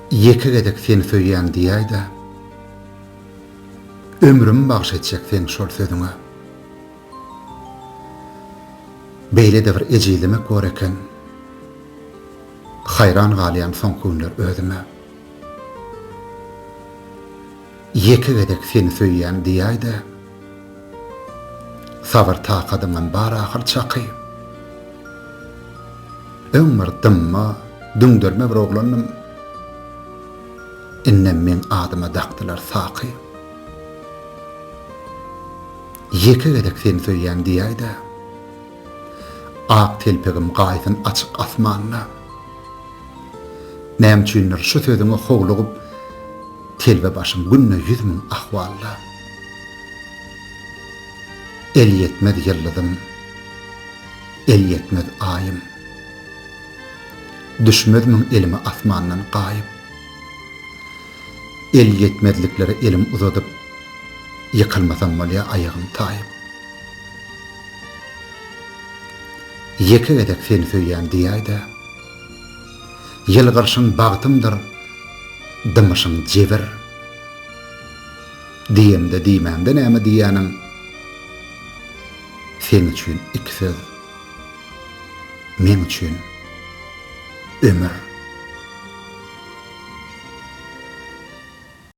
Ýeke gezek seni söýýän diýäýdä Ömrümi bagş etjek seň şol sözüňe Beýlede bir ejizlemek bor eken Haýran galýan soňky günler özüme Ýeke gezek seni söýýän diýäýdä. Sabyr takadyňam bar ahyr çaky. Öň bir dymma, düňderme bir oglandym. Indem meň adyma dakdylar Saky. Ýeke gezek seni söýýän diýäýdä. Ak telpegim gaýsyn açyk asmanda. Näme üçindir şu sözüňe howlugyp, telbe başym günde ýüz müň ahwalda. Elýetmez ýyldyzym, elýetmez aýym. Düşmez müň elime asmandan gaýyp. Elýetmezliklere elim uzadyp, ýykylmasam bolýa aýagym taýyp. Ýeke gezek seni söýýän diýäý-de, ýylgyrşyň bagtymdyr, dymyşyň jebir. Diýemde diýmämde näme diýýäniň seň üçin iki söz meň üçin ömür.